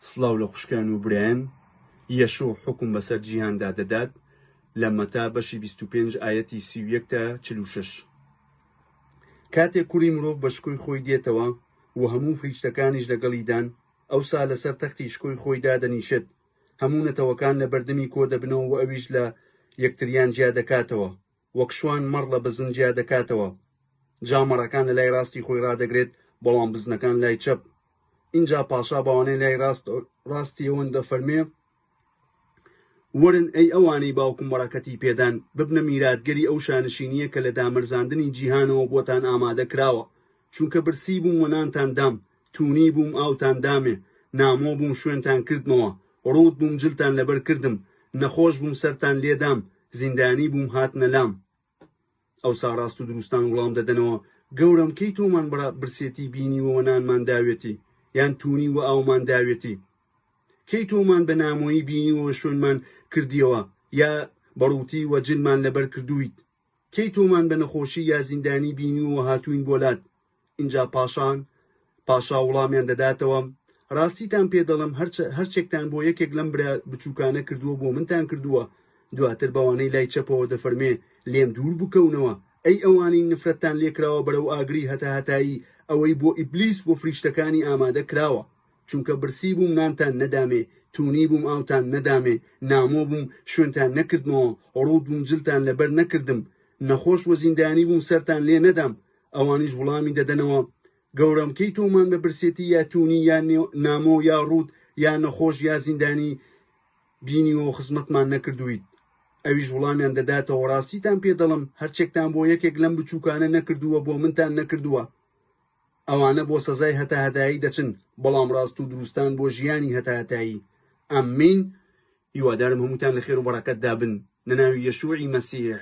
سڵاو لە خوشکان و برایان. یەشوع حوکم بەسەر جیهاندا دەدات لە مەتا بەشی بیست و پێنج ئایەتی سی و یەک تا چل و شەش. کاتێک کوڕی مرۆڤ بە شکۆی خۆی دێتەوە و هەموو فریشتەکانیش لەگەڵیدان، ئەوسا لەسەر تەختی شکۆی خۆی دادەنیشێت، هەموو نەتەوەکان لە بەردەمی کۆدەبنەوە و ئەویش لە یەکتریان جیادەکاتەوە. وەک شوان مەڕ لە بزن جیا دەکاتەوە جا مەڕەکان لە لای ڕاستی خۆی ڕادەگرێت بەڵام بزنەکان لای چەپ ئینجا پاشا بەوانەی لای ڕاست ڕاستی ئەوەن دەفەرمێ ورن ئەی ئەوانەی باوکم بەڕەکەتی پێدان ببنە میراتگەری ئەو شانشینیە کە لە دامەرزاندنی جیهانەوە بۆتان ئامادە کراوە چونکە برسی بووم و نانتان دام، توونی بووم ئاوتان دامێ، نامۆ بووم شوێنتان کردمەوە، ڕووت بووم جلتان لەبەر کردم، نەخۆش بووم سەرتان لێ دام، زیندانی بووم هاتنە لام. ئەوسا ڕاست و دروستان وڵام دەدەنەوە، گەورەم کەی تۆمان بە برسێتی بینیوە و نانمان داوێتی، یان توونی و ئاومان داوێتی؟ کەی تۆمان بە نامۆیی بینیوە و شوێنمان کردیەوە، یا بە ڕووتی و جلمان لەبەر کردوویت؟ کەی تۆمان بە نەخۆشی یا زیندانی بینیوە و هاتووین بۆ لات؟ ئینجا پاشان پاشا وڵامیان دەداتەوە، ڕاستیتان پێ دەڵێم هەرچە هەرچێکتان بۆ یەکێک لەم برا بچووکانە کردووە بۆ منتان کردووە، دواتر بەوانەی لای چەپەوە دەفەرمێ لێم دوور بکەونەوە، ئەی ئەوانەی نفرەتتان لێ کراوە بەرەو ئاگری هەتاهەتایی، ئەوەی بۆ ئیبلیس و فریشتەکانی ئامادە کراوە. چونکە برسی بووم نانتان نەدامێ تونی بووم ئاوتان نەدامێ نامۆ بووم شوێنتان نەکردمەوە ڕووت بووم جلتان لەبەر نەکردم نەخۆش و زیندانی بووم سەرتان لێ نەدام ئەوانیش وڵامی دەدەنەوە گەورەم کەی تۆمان بە برسێتی یا تونی یا نامۆ یا ڕووت یا نەخۆش یا زیندانی بینیوە و خزمەتمان نەکردویت ئەویش وڵامیان دەداتەوە ڕاستیتان پێ دەڵم هەرچێکتان بۆ یەکێک لەم بچووکانە نەکردووە بۆ منتان نەکردووە ئەوانە بۆ سەزای هەتاهەتایی دەچن بەڵام ڕاست و دروستان بۆ ژیانی هەتاهەتایی امین هیوادارم هەمووتان لەخێرو بەڕەکەتدا بن لەناوی یەشوعی مەسیح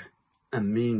امین.